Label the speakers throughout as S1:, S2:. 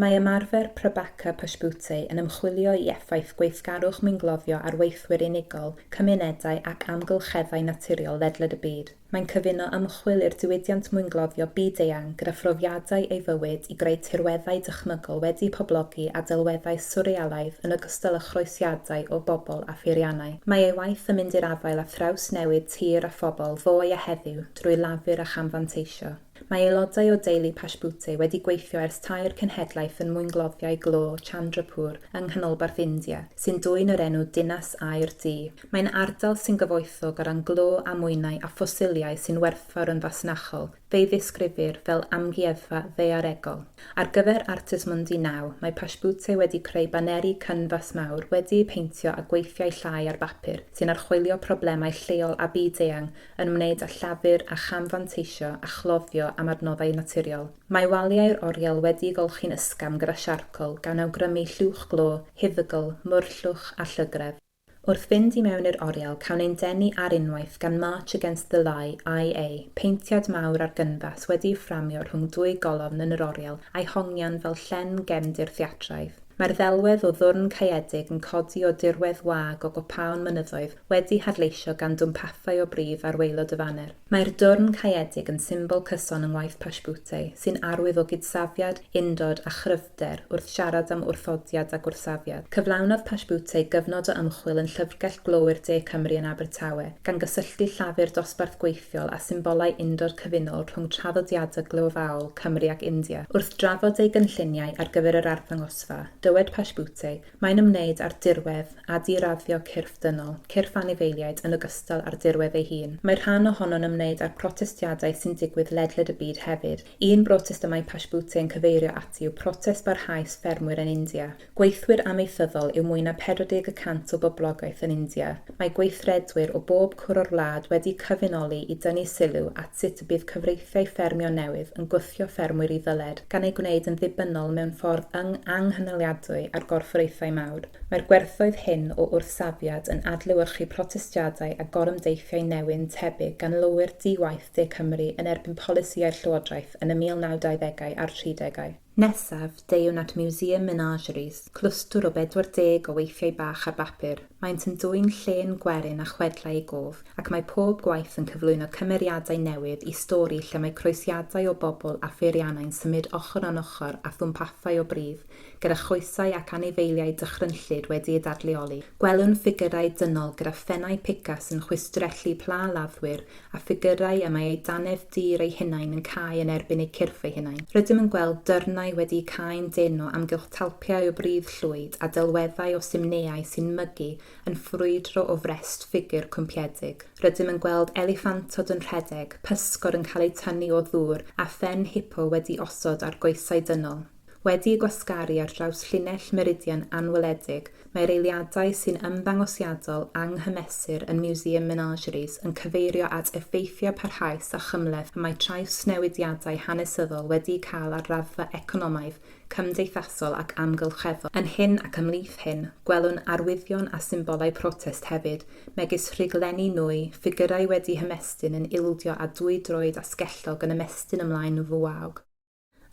S1: Mae ymarfer Prabhakar Pashpute yn ymchwilio i effaith gweithgarwch mwyngloddio ar weithwyr unigol, cymunedau ac amgylcheddau naturiol ledled y byd. Mae'n cyfuno ymchwil i'r diwydiant mwyngloddio byd-eang gyda phrofiadau ei fywyd i greu tirweddau dychmygol wedi'u poblogi â delweddau swrrealaidd yn ogystal â chroesiadau o bobl a pheiriannau. Mae ei waith yn mynd i'r afael â thrawsnewid tir a phobl ddoe a heddiw drwy lafur a chamfanteisio. Mae aelodau o deulu Pashpute wedi gweithio ers tair cenhedlaeth yn mwyngloddiau glo Chandrapur yng nghanolbarth India, sy'n dwyn yr enw Dinas Aur Du. Mae'n ardal sy'n gyfoethog o ran glo a mwynau a ffosiliau sy'n werthfawr yn fasnachol, Fe'i ddisgrifir fel amgueddfa ddaearegol. Ar gyfer Artes Mundi Now, mae Pashtbute wedi creu baneri canfas mawr wedi'u peintio â gweithiau llai ar bapur sy'n archwilio problemau lleol a byd-eang yn ymwneud â llafur a cham-fanteisio a chloddio am adnoddau naturiol. Mae waliau'r oriel wedi'u golchi'n ysgafn gyda siarcol gan awgrymu llwch glo, huddygl, murllwch a llygredd. Wrth fynd i mewn i'r oriel cawn ein denu ar unwaith gan March Against the Lie, IA, peintiad mawr ar gynfas wedi'i fframio rhwng dwy golofn yn yr oriel a'i hongian fel llen gefndir theatraidd. Mae'r ddelwedd o ddwrn caeedig yn codi o dirwedd wag o gopaon mynyddoedd wedi hadleisio gan dwmpathau o brif arweilod y faner. Mae'r dwrn caeedig yn symbol cyson yng ngwaith Pashtputey, sy'n arwydd o gydsafiad, undod a chryf, hyder wrth siarad am wrthodiad a gwrthsafiad. Cyflawnodd Pasbutte gyfnod o ymchwil yn Llyfrgell Glowyr De Cymru yn Abertawe, gan gysylltu llafur dosbarth gweithiol â symbolau undod cyfunol rhwng traddodiadau glöfaol Cymru ac India. Wrth drafod ei gynlluniau ar gyfer yr arddangosfa, dywed Pasbutte, Mae'n ymwneud â'r dirwedd, a di-raddio cyrff dynol, cyrff anifeiliaid yn ogystal â'r dirwedd ei hun. Mae rhan ohono'n ymwneud â'r protestiadau sy'n digwydd ledled y byd hefyd, Un brotest y mae Pashpute yn cyfeirio ati yw protest barhaus ffermwyr yn India. Gweithwyr amaethyddol yw mwy na 40 y cant o boblogaeth yn India. Mae gweithredwyr o bob cwr o'r wlad wedi cyfunoli i dynnu sylw at sut y bydd cyfreithiau ffermio newydd yn gwthio ffermwyr i ddyled, gan eu gwneud yn ddibynnol mewn ffordd anghynaliadwy ar gorfforaethau mawr. Mae'r gwerthoedd hyn o wrthsafiad yn adlewyrchu protestiadau a gorymdeithiau newyn tebyg gan lowyr di-waith, De Cymru yn erbyn polisïau'r Llywodraeth yn y 1920au a'r 30au. Nesaf, deuwn at Museum Menageries, clwstwr o 40 o weithiau bach ar bapur, maent yn dwyn llên gwerin a chwedlau i gof, ac mae pob gwaith yn cyflwyno cymeriadau newydd i stori lle mae croesiadau o bobl a pheiriannau'n symud ochr yn ochr â thwmpathau o bridd, gyda choesau ac anifeiliaid dychrynllyd wedi'u dadleoli. Gwelwn ffigyrau dynol gyda phennau pica sy'n chwistrellu pla laddwyr a ffigyrau y mae eu dannedd dur eu hunain yn cau yn erbyn eu cyrff eu hunain. Rydym yn gweld dyrnau wedi'u cau'n dân o amgylch talpiau o bridd llwyd a delweddau o simneau sy'n mygu yn ffrwydro o frest ffigur cwmpiedig. Rydym yn gweld eliffantod yn rhedeg, pysgod yn cael eu tynnu o ddŵr a phen hipo wedi osod ar goesau dynol. Wedi'u gwasgaru ar draws llinell Meridian anweledig, mae'r eiliadau sy'n ymddangosiadol anghymesur yn Museum Menageries yn cyfeirio at effeithiau parhaus a chymhleth y mae trawsnewidiadau hanesyddol wedi'u cael ar raddfa economaidd, cymdeithasol ac amgylcheddol. Yn hyn ac ymhlith hyn, gwelwn arwyddion a symbolau protest hefyd, megis rhuglenni nwy, ffigyrau wedi hymestyn yn ildio a dwy droed asgellog yn ymestyn ymlaen fuaog.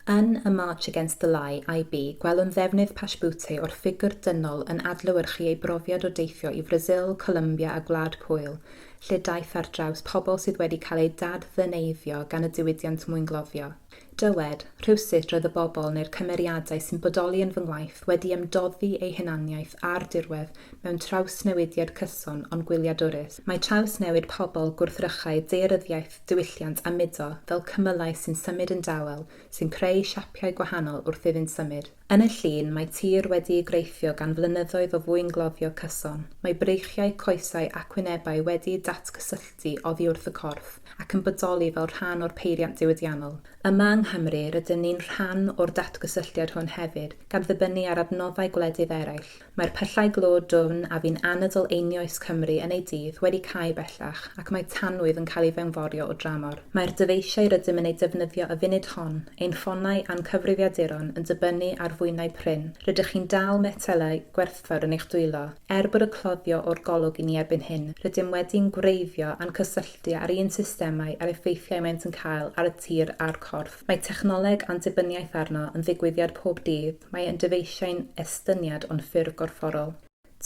S1: Yn y March Against the Lie, IB, gwelwn ddefnydd Pashbute o'r ffigwr dynol yn adlewyrchu ei brofiad o deithio i Frasil, Colombia a Gwlad Pwyl, lle daeth ar draws pobl sydd wedi cael eu dad-ddyneiddio gan y diwydiant mwyngloddio. Dywed, Rhywsut roedd y bobl neu'r cymeriadau sy'n bodoli yn fy ngwaith wedi ymdoddi eu hunaniaeth a'r dirwedd mewn trawsnewidiad cyson ond gwyliadwrus. Mae trawsnewid pobl gwrthrychau daearyddiaeth diwylliant a mudo fel cymylau sy'n symud yn dawel sy'n creu siapiau gwahanol wrth iddynt symud. Yn y llun, mae tir wedi'i greithio gan flynyddoedd o fwyngloddio cyson, mae breichiau, coesau ac wynebau wedi'u datgysylltu oddi wrth y corff ac yn bodoli fel rhan o'r peiriant diwydiannol. Yma yng Nghymru, rydyn ni'n rhan o'r datgysylltiad hwn hefyd, gan ddibynnu ar adnoddau gwledydd eraill. Mae'r pyllau glo dwfn a fu'n anadl einioes Cymru yn ei dydd wedi cau bellach ac mae tanwydd yn cael ei fewnforio o dramor. Mae'r dyfeisiau rydym yn eu defnyddio y funud hon, ein ffonau a'n cyfrifiaduron, yn dibynnu ar fwynau prin. Rydych chi'n dal metelau gwerthfawr yn eich dwylo. Er bod y cloddio o'r golwg i ni erbyn hyn, rydym wedi'n gwreiddio a'n cysylltu â'r un systemau a'r effeithiau maent yn cael ar y tir a'r corff. Mae technoleg a'n dibyniaeth arno yn ddigwyddiad pob dydd, mae e'n dyfeisiau'n estyniad o'n ffurf gorfforol.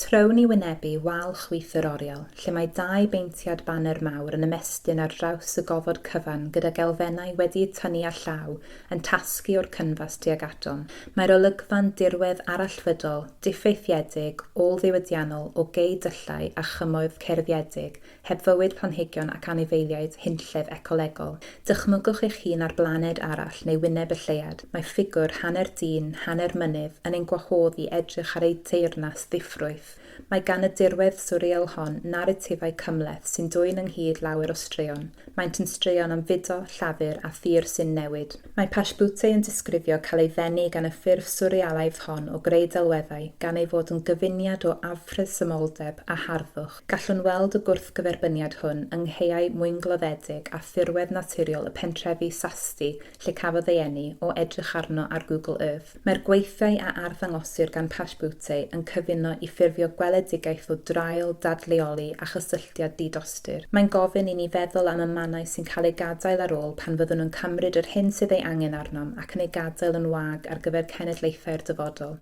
S1: Trown i wynebu wal chwith yr oriel, lle mae dau beintiad baner mawr yn ymestyn ar draws y gofod cyfan gydag elfennau wedi'u tynnu â llaw yn tasgu o'r cynfas tuag atom. Mae'r olygfa'n dirwedd arallfydol, diffeithiedig, ôl-ddiwydiannol o gei dyllau a chymoedd cerfiedig Heb fywyd planhigion ac anifeiliaid hunllef ecolegol, dychmygwch eich hun ar blaned arall neu wyneb y lleuad, mae ffigwr hanner dyn, hanner mynydd, yn ein gwahodd i edrych ar eu teyrnas ddiffrwyth. Mae gan y dirwedd swreal hon naratifau cymhleth sy'n dwyn ynghyd lawer o straeon. Maent yn straeon am fudo, llafur, a thir sy'n newid. Mae Pashbute yn disgrifio cael ei ddenu gan y ffurf swrealaidd hon o greu delweddau gan ei fod yn gyfuniad o afresymoldeb a harddwch. Gallwn weld y gwrthgyferbyniad hwn yng nghaeau mwyngloddedig a thirwedd naturiol y pentrefi Sasti lle cafodd ei eni, o edrych arno ar Google Earth. Mae'r gweithiau a arddangosir gan Paschbütte yn cyfuno i ffurfio gweledigaeth o draul, dadleoli a chysylltiad di-dostur. Mae'n gofyn i ni feddwl am y mannau sy'n cael eu gadael ar ôl pan fyddwn yn cymryd yr hyn sydd ei angen arnom ac yn ei gadael yn wag ar gyfer cenedlaethau'r dyfodol.